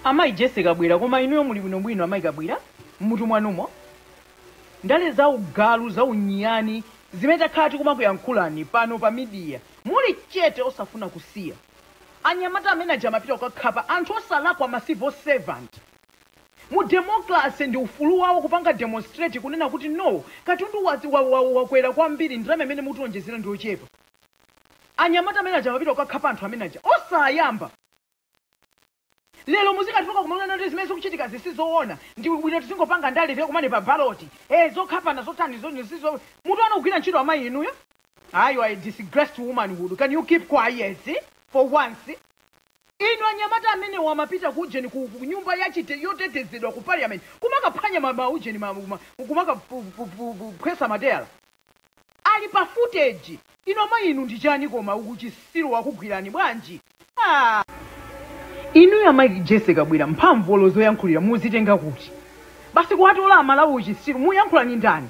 Amayi Jessie Kabwira, koma inuyo muli bwinobwino amayi Kabwira m'mutu mwanumo? Ndale za ugalu, za unyani zimene takhala tikumakuyankhulani pano pa media muli chete osafuna kusiya. Anyamata amene aja amapita kukakhapa anthu osalakwa ma civil servant. Mu democracy ndi ufulu wawo kupanga demonstrate kunena kuti no katundu was, wa, wa, wakwera kwambiri ndalama imene mutiwonjezera ndi yochepa. Anyamata amene aja amapita kukakhapa anthu amene aja osayamba lero muzikadzuka kumanena kuti zimene zikuchitikazi si zoona ndi bwino tizingopanga ndale tikakumane pa baloti eh zokhapana zotani zo sizo mutu wanu sugwira ntchito amayi inuyo ayi you are a disgrace to womanhood can you keep quiet for once Inu anyamata amenewo amapita ku ujeni ku ku nyumba ya chite, yotetezedwa ku Parliament kumakaphwanya ma, ma ujeni ma, ma kumakaphu-phu-phu-phu-phwesa matayala. Ali pa footage. Inu amayi inu ndi chani koma? Uchitsiru wakugwirani bwanji? Aaa! Inuyo amayi Jessie Kabwira mphamvu olo zoyankhulira muzitenga kuti? Basi kuwatola a Malawi uchitsiru, muyankhula ndi ndani?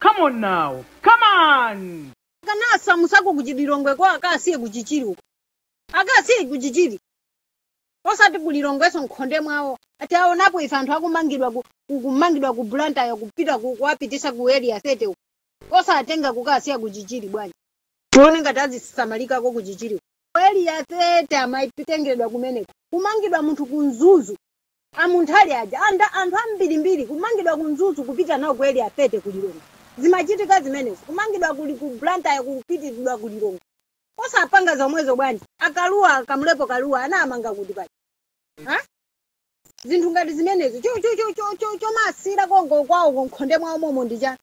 Come on now. Come on! akanasamusako ku chililongweko akawasiye ku chichiri uko akawasiye ku chichiri osati ku lilongweso m'khonde mwawo ati aonapo ife anthu akumangidwa ku- ku- kumangidwa ku blantyre kupita ku- kuwapitisa ku area 30 uko osatenga kukawasiya ku chichiri bwanji tione ngati azisamalikako ku chichiri uko. ku area 30 amatengeredwa kumeneko kumangidwa munthu ku mzuzu A Munthali aja anthu ambirimbiri kumangidwa ku Mzuzu kupita nawo ku Area 30 ku Lilongwe. Zimachitika zimenezi. Kumangidwa kuli ku Blantyre kupitiridwa ku Lilongwe. Osapanga zomwezo bwanji? A Kalua, Kamlepo Kalua anawamanga kuti paja? Ha? Zinthu ngati zimenezi. Cho cho cho cho cho chomasira konko kwawo m'khonde mwawo momo ndi chani?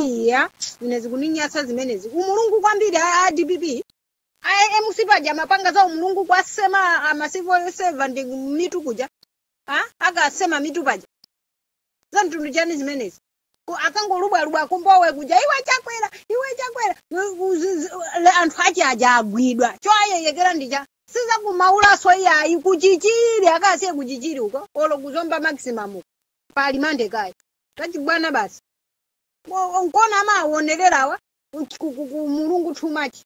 Iya, ine zikuninyasa zimenezi. Umulungu kwambiri a, a DPP. a MCP paja amapanga za umulungu kuwasema ma civil servant mitu kuja a akawasema mitu paja za mtundu chani zimenezi Ku- akangolubwalubwa akumbowe kuja iwe chakwera iwe chakwera U- u- zi- zi- le- anthu ache aja agwidwa choyerekedwa ndija sizakumaulaso iyayi kuchichiri akawasiye kuchichiri uko olo kuzomba maximum uko pa remand kayi tachibwana basi Wo- nkona amawonererawa ku- ku- ku- ku mulungu too much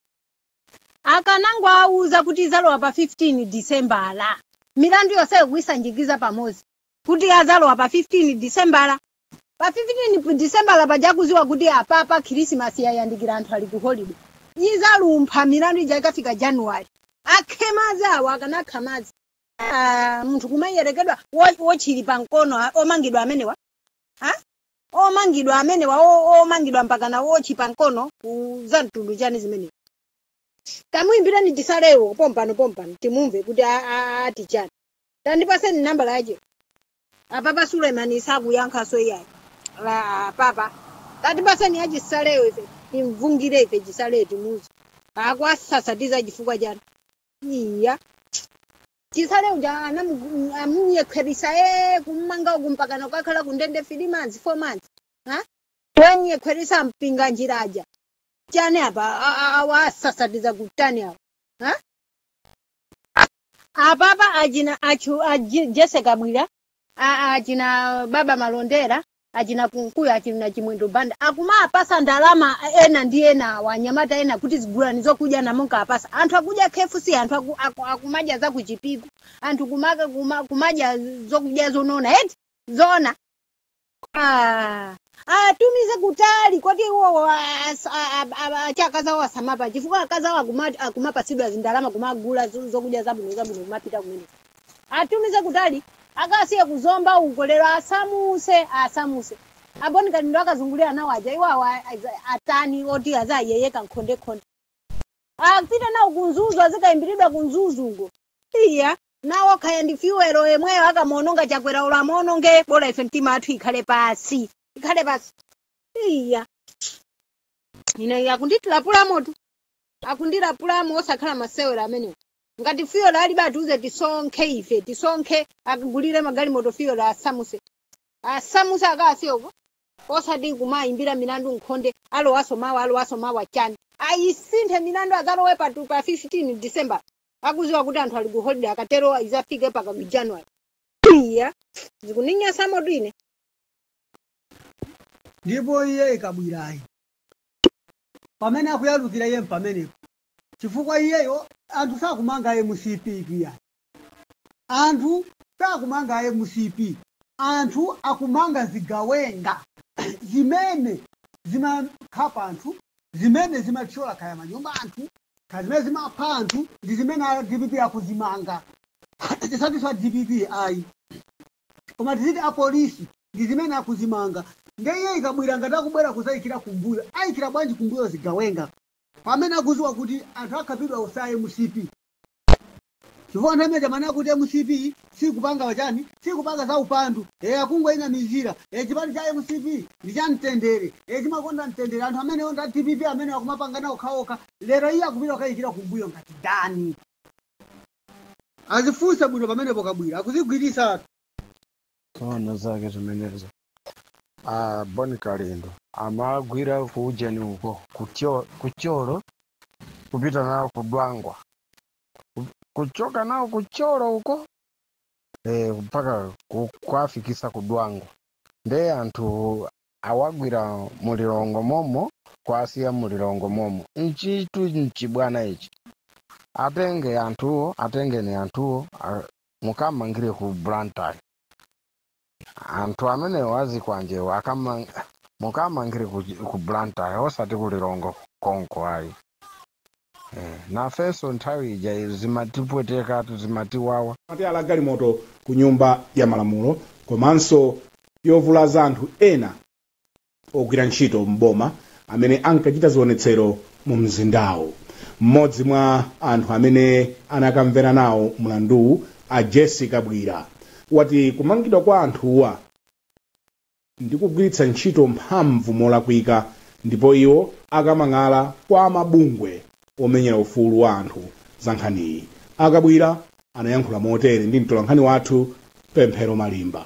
akanangowauza kuti izalowa pa 15 disembala milandu yonse kuisanjikiza pamodzi kuti azalowa pa 15 disembala pa 15 disembala pajakuziwa kuti apapa khirisimasi yayandikira anthu ali ku holiday izalumpha milandu ija ikafika januwali akhe madzi awo akanakha madzi Ah, munthu kumayerekedwa wo- wotchi ili pa mkono a- omangidwa amenewa Ha? omangidwa amenewa o- omangidwa mpaka na wotchi pa mkono ku- za mtundu chani zimenezo tamuimbirani Chisalewo pompano pompano timumve kuti a- a- ati chani tandipaseni nambala yache apapa Suleman sakuyankhaso iyayi La- apapa tatipaseni ya Chisalewo ife timvungire ife Chisalewo timuzi akwasasatiza chifukwa chani iya Chisale uja anamu- amunyekherisa ee kummanga uku mpakana kukakhala kundende three months four months ha? wanyekherisa mpinga njira aja chani apa A- a- awa asasatiza kutani awa ha? apapa achina achu aji- jese kabwira a- achina baba malondera achina Kunkuyu, achina Chimwendo Banda akumawapasa ndalama ena ndi ena aanyamata ena kuti zigulani zokudya namunkawapasa anthu akudya KFC anthu aku, aku, akumadya za ku Chipiku anthu kumaka, kuma, kumadya zokudya zonona eti zona Ah, atumize kutali koti iwowo as- a- a- a- acha akazi awo asamapa chifukwa akazi awo akuma- akumapatsidwa zindalama kumagula zo- zokudya zabwino zabwino kumapita kumene Atumize kutali akasiye ku Zomba uko lero asamuse asamuse. A Bon Kalindo akazungulira nawo aja iwo awa aza- atani oti azayeyeka nkhondekhonde. Apite nawo ku Mzuzu azikayimbiridwa ku Mzuzu uko. Iya nawo kaya ndi fuel yemweyo akumaononga Chakwera olo amaononge bola ife mitima yathu ikhale pasi ikhale pasi. Iya ine akundilapulamotu akundilapulamo osakhala masewera amenewo. ngati fuel alibe atiuze tisonkhe ife tisonkhe akagulire magalimoto fuel asamuse asamuse akawasiye uko osati kumayimbira milandu nkhonde alowaso mawa alowaso mawa chani ayisinthe milandu azalowe pa tu- pa 15 december akuziwa kuti anthu ali ku holiday akatero izafike paka ku january iya zikuninyasamotu ine ndipo iye Kabwirayi pamene akuyalukira iye mpamenepo chifukwa iyeyo anthu sakumanga mcp iyayi anthu sakumanga mcp anthu akumanga zigawenga zimene zimakhapa anthu zimene zimathyola kaya manyumba anthu kaya zimene zimapha anthu ndi zimene a dpp akuzimanga tisatiso a dpp ayi koma tiziti apolisi ndi zimene akuzimanga nde iye Kabwira ngati akubwera kuzayikira kumbuyo ayikira bwanji kumbuyo zigawenga pamene akuziwa kuti anthu akhapidwa osati mcp chifukwa nthawi imene ija amanena kuti mcp sikupanga wachani sikupanga za upandu e akungowanamizira e chipani cha mcp ndi cha mtendere e chimakonda mtendere anthu amenewo nda dpp amene akumapangana awo okhaokha lero iye akupita kukayikira kumbuyo ngati ndani azifunse bwino pamenepo Kabwira akuzigwirisa tsono zake zimenezo. a Bon Kalindo amagwira ku ujeni uko ku Tyo- ku Thyolo kupita nawo ku Dwangwa ku- kuchoka nawo ku Thyolo uko eh, mpaka ku- kuwafikisa ku Dwangwa nde anthu awagwira mulilongo momo kwasiya mulilongo momo nchitu nchibwana ichi atenge anthuwo atengeni anthuwo a- mukamangire ku Blantyre anthu amenewa azikwanjewo akamang mukamangire ku, ku blantyre osati ku lilongwe konko ayi eh, nafenso nthawi ija izi zimatipwetekatu zimatiwawa mateyala a galimoto ku nyumba ya malamulo komanso yovulaza anthu ena ogwira ntchito m'boma amene ankachita zionetsero mumzindawu. Mmodzi mwa anthu amene anakamvera nawo mlanduwu, a Jessie Kabwila, wati kumangidwa kwa anthuwa ndi kugwiritsa ntchito mphamvu molakwika ndipo iwo akamang'ala kwa amabungwe omenyera ufulu wa anthu za nkhaniyi. A Kabwila anayankhula motere ndi mtolankhani wathu Pemphero Malimba.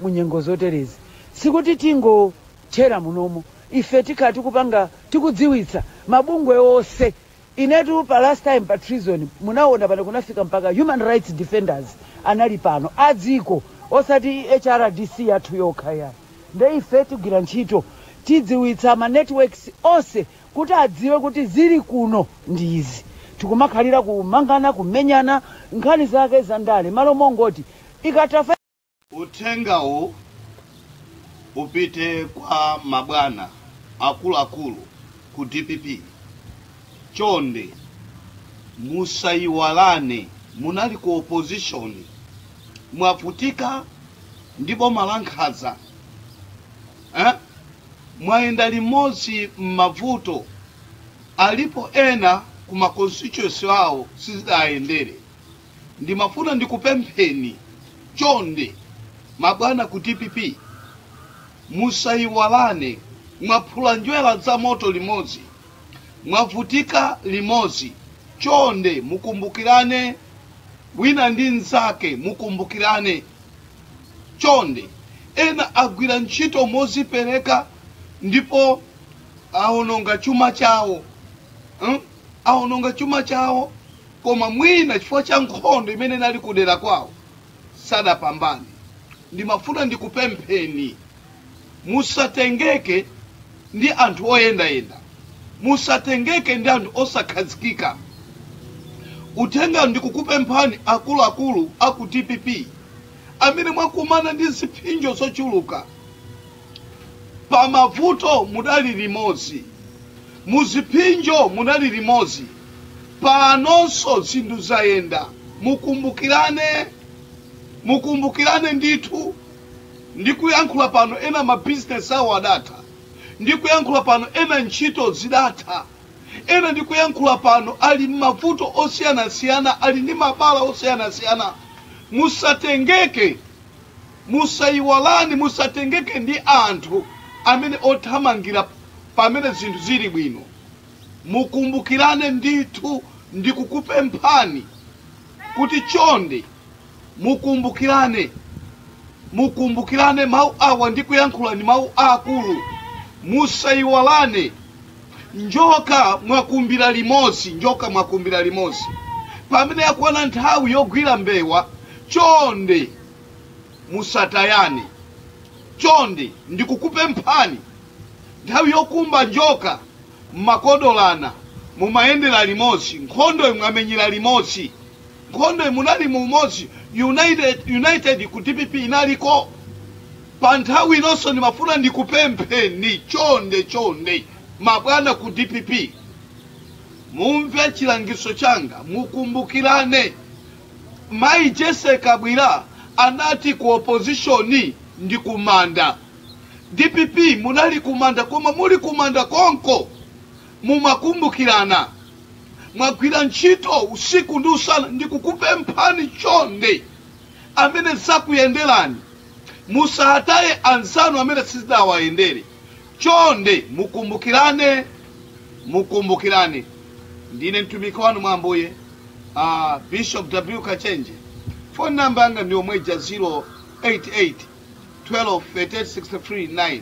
Mu nyengo zoterezi sikuti tingothera munomo, ife tikhala tikupanga, tikudziwitsa mabungwe onse. Inetu pa last time pa treason munawona pano kunafika mpaka human rights defenders anali pano a dziko osati HRDC yathu yokha ayi. Nde ife tigwira ntchito, tidziwitsa ma networks onse kuti adziwe kuti zili kuno ndi izi, tikumakhalira kumangana, kumenyana, nkhani zake za ndale, malo mongoti ikatha 5. Uthengawu upite kwa mabwana akuluakulu ku dpp, chonde musayiwalane munali ku opposition, mwavutika ndi boma lankhaza. eh? mwayenda limodzi m'mavuto alipo ena ku ma constituency awo sizidayendere ndimafuna ndikupempheni chonde mabwana ku dpp musayiwalane mwaphula njwera za moto limodzi mwavutika limodzi chonde mukumbukirane wina ndi mnzake mukumbukirane Chonde, ena agwira ntchito mozipereka ndipo awononga chuma chawo mm? awononga chuma chawo koma mwina chifukwa cha nkhondo imene inali kudera kwawo sadapambane. Ndimafuna ndikupempheni musatengeke ndi anthu oyendayenda. Musatengeke ndi anthu osakhazikika. Uthenga ndikukupemphani akuluakulu a ku dpp amene mwakumana ndi ziphinjo zochuluka pa mavuto mudali limodzi, muziphinjo mudali limodzi, panonso zinthu zayenda, mukumbukirane, mukumbukirane ndithu. Ndikuyankhula pano ena ma business awo adatha. Ndikuyankhula pano ena ntchito zidatha. Ena ndikuyankhula pano ali mmavuto osiyanasiyana, ali ndi mabala osiyanasiyana. Musatengeke, musayiwalane, musatengeke ndi anthu amene othamangira pamene zinthu zili bwino. Mukumbukirane ndithu, ndikukupemphani kuti chonde. Mukumbukirane, mukumbukirane mawu awa ndikuyankhula ndi mawu aakulu. Musaiwalane, njoka mwakumbira limodzi, njoka mwakumbira limodzi. Pamene yakwana nthawi yogwira mbewa, chonde musatayane, chonde ndikukupemphani. Nthawi yokumba njoka mumakodolana, mumayendera limodzi, nkhondoyo mwamenyera limodzi. Nkhondoyi munali mu umodzi united, united ku dpp inaliko pa nthawi inonso. Ndimafuna ndikupempheni chonde chonde, mabwana ku dpp mumve chilangizo changa, mukumbukirane. Mayi Jesse Kabwira anati ku opposition ndi kumanda. Dpp munali kumanda, koma muli kumanda konko Mumakumbukirana, Mwagwira ntchito usiku ndi usana. Ndikukupemphani chonde amene zakuyenderani musataye anzanu amene sizidawayendere. Chonde mukumbukirane, mukumbukirane. Ndine mtumiki wanu mwa Ambuye, Bishop W. Kachenje. Phone number yanga ndiyomweija 088 12 38 63 9.